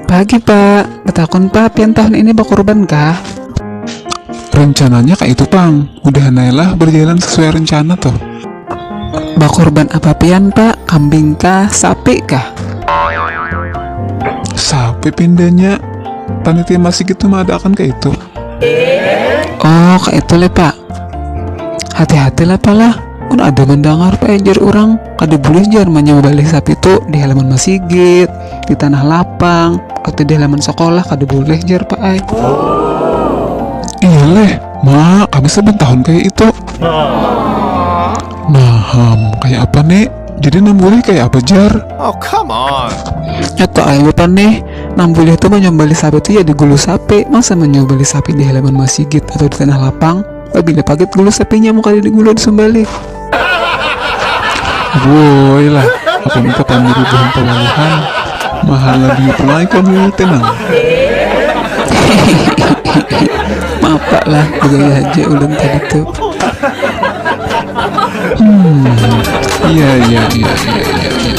Pagi pak, betakun pak, pian tahun ini bakurban kah? Rencananya kak itu pang, udah nailah berjalan sesuai rencana tuh. Bakurban apa pian pak, kambing kah, sapi kah? Sapi pindahnya, panitia masih gitu mah ada akan kak itu. Oh, kak itu le pak. Hati-hati lah palah. Mun ada mendengar penjer orang, kada boleh jar menyembelih sapi tu di halaman masigit, di tanah lapang, atau di halaman sekolah kada boleh jar pak ai. Iya leh, ma kami saban tahun kaya itu. Nah ham, kaya apa ni? Jadi nang boleh kaya apa jar? Oh come on. Nyak pak ai lupa nih, nang boleh tu menyembelih sapi tu ya di gulu sapi, masa menyembelih sapi di halaman masigit atau di tanah lapang? Pabila pagat gulu sapi nyamuk kada digulu disumbalih. Woi lah, apa muka pandiri buhan pawaluhan, mahala biut lai kamu te nang. Mapak lah, begaya haja ulun tadi tu. Hmm, iya iya iya iya iya. iya.